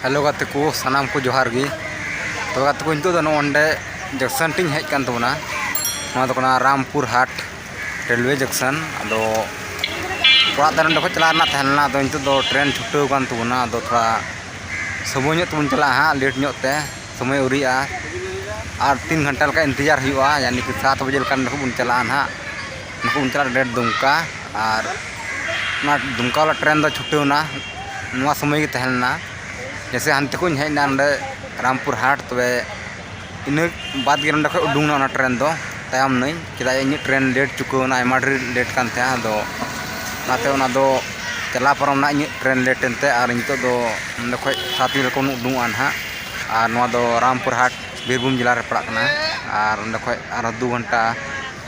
hello ᱜᱟᱛᱮ ᱠᱚ ᱥᱟᱱᱟᱢ ᱠᱚ ᱡᱚᱦᱟᱨ ᱜᱮ ᱛᱚ ᱜᱟᱛᱮ ᱠᱚ ᱱᱤᱛᱚᱜ ᱫᱚ ᱱᱚᱸᱰᱮ ᱡᱚᱸᱠᱥᱚᱱ ᱴᱷᱮᱱ ᱦᱮᱡ ᱠᱟᱱ ᱛᱟᱵᱚᱱᱟ ᱱᱚᱣᱟ ᱫᱚ ᱠᱟᱱᱟ ᱨᱟᱢᱯᱩᱨ ᱦᱟᱴ ᱨᱮᱞᱣᱮ ᱡᱚᱸᱠᱥᱚᱱ ᱟᱫᱚ ᱚᱲᱟᱜ ᱫᱚ ᱱᱚᱸᱰᱮ ᱠᱷᱚᱱ ᱪᱟᱞᱟᱜ ᱨᱮᱱᱟᱜ ᱛᱟᱦᱮᱸ ᱞᱮᱱᱟ ᱟᱫᱚ ᱱᱤᱛᱚᱜ ᱫᱚ ᱴᱨᱮᱱ ᱪᱷᱩᱴᱟᱹᱣ ᱠᱟᱱ ᱛᱟᱵᱚᱱᱟ ᱟᱫᱚ ᱛᱷᱚᱲᱟ ᱥᱚᱢᱚᱭ ᱧᱚᱜ ᱛᱮᱵᱚᱱ ᱪᱟᱞᱟᱜᱼᱟ ᱦᱟᱸᱜ ᱞᱮᱴ ᱧᱚᱜ ᱛᱮ ᱥᱚᱢᱚᱭ ᱟᱹᱣᱨᱤᱭᱟᱜᱼᱟ ᱟᱨ ᱛᱤᱱ ᱜᱷᱚᱱᱴᱟ ᱞᱮᱠᱟ ᱤᱱᱛᱮᱡᱟᱨ ᱦᱩᱭᱩᱜᱼᱟ ᱡᱟᱱᱤ ᱠᱤ ᱥᱟᱛ ᱵᱟᱡᱮ ᱞᱮᱠᱟ ᱱᱚᱸᱰᱮ ᱠᱷᱚᱱ ᱵᱚᱱ ᱪᱟᱞᱟᱜᱼᱟ ᱦᱟᱸᱜ ᱩᱱᱠᱩ ᱠᱚ ᱢᱮᱛᱟᱜ ᱠᱟᱱᱟ ᱰᱟᱭᱨᱮᱠᱴ ᱫᱩᱢᱠᱟ ᱟᱨ ᱚᱱᱟ ᱫᱩᱢᱠᱟ ᱵᱟᱞᱟ ᱴᱨᱮᱹᱱ ᱫᱚ ᱪᱷᱩᱴᱟᱹᱣ ᱮᱱᱟ ᱱᱚᱣᱟ ᱥᱚᱢᱚᱭ ᱜᱮ ᱛᱟᱦᱮᱸ ᱞᱮᱱᱟ ᱡᱮᱭᱥᱮ ᱦᱟᱱᱛᱮ ᱠᱷᱚᱱ ᱤᱧ ᱦᱮᱡ ᱮᱱᱟ ᱱᱚᱰᱮ ᱨᱟᱢᱯᱩᱨ ᱦᱟᱴ ᱛᱚᱵᱮ ᱤᱱᱟᱹ ᱵᱟᱫᱽ ᱜᱮ ᱱᱚᱰᱮ ᱠᱷᱚᱱ ᱩᱰᱩᱠ ᱮᱱᱟ ᱚᱱᱟ ᱴᱨᱮᱹᱱ ᱫᱚ ᱛᱟᱭᱚᱢ ᱱᱟᱹᱧ ᱪᱮᱫᱟᱜ ᱡᱮ ᱤᱧᱟᱹᱜ ᱴᱨᱮᱹᱱ ᱞᱮᱹᱴ ᱪᱩᱠᱟᱹᱣ ᱮᱱᱟ ᱟᱭᱢᱟ ᱰᱷᱮᱨ ᱞᱮᱹᱴ ᱠᱟᱱ ᱛᱟᱦᱮᱸᱫ ᱟᱫᱚ ᱚᱱᱟᱛᱮ ᱚᱱᱟ ᱫᱚ ᱪᱟᱞᱟᱣ ᱯᱟᱨᱚᱢ ᱮᱱᱟ ᱤᱧᱟᱹᱜ ᱴᱨᱮᱹᱱ ᱞᱮᱹᱴ ᱮᱱᱛᱮ ᱟᱨ ᱱᱤᱛᱚᱜ ᱫᱚ ᱱᱚᱰᱮ ᱠᱷᱚᱱ ᱥᱟᱛ ᱵᱟᱡᱮ ᱠᱷᱚᱱ ᱩᱰᱩᱠᱚᱜᱼᱟ ᱦᱟᱸᱜ ᱟᱨ ᱱᱚᱣᱟ ᱫᱚ ᱨᱟᱢᱯᱩᱨ ᱦᱟᱴ ᱵᱤᱨᱵᱷᱩᱢ ᱡᱮᱞᱟ ᱨᱮ ᱯᱟᱲᱟᱜ ᱠᱟᱱᱟ ᱟᱨ ᱚᱸᱰᱮ ᱠᱷᱚᱱ ᱟᱨᱦᱚᱸ ᱫᱩ ᱜᱷᱚᱱᱴᱟ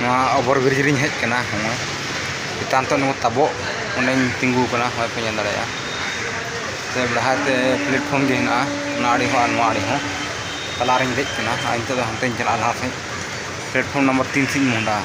ᱱᱚᱣᱟ ᱚᱵᱷᱚᱨ ᱵᱨᱤᱡᱽ ᱨᱮᱧ ᱦᱮᱡ ᱠᱟᱱᱟ ᱦᱚᱸᱜᱼᱚᱭ ᱪᱮᱛᱟᱱ ᱛᱮ ᱱᱚᱣᱟ ᱛᱟᱵᱚᱜ ᱚᱸᱰᱮᱧ ᱛᱤᱸᱜᱩ ᱠᱟᱱᱟ ᱦᱚᱸᱜᱼᱚᱭ ᱯᱮ ᱧᱮᱞ ᱫᱟᱲᱮᱭᱟᱜᱼᱟ ᱥᱮ ᱞᱟᱦᱟ ᱛᱮ ᱯᱞᱟᱴᱯᱷᱨᱚᱢ ᱜᱮ ᱦᱮᱱᱟᱜᱼᱟ ᱚᱱᱟ ᱟᱲᱮ ᱦᱚᱸ ᱟᱨ ᱱᱚᱣᱟ ᱟᱲᱮ ᱦᱚᱸ ᱛᱟᱞᱟ ᱨᱮᱧ ᱫᱮᱡ ᱠᱟᱱᱟ ᱟᱨ ᱱᱤᱛᱚᱜ ᱫᱚ ᱦᱟᱱᱛᱮᱧ ᱪᱟᱞᱟᱜᱼᱟ ᱞᱟᱦᱟ ᱥᱮᱫ ᱯᱞᱟᱴᱯᱷᱨᱚᱢ ᱱᱟᱢᱵᱟᱨ ᱛᱤᱱ ᱥᱮᱫ ᱤᱧ ᱢᱚᱦᱰᱟᱜᱼᱟ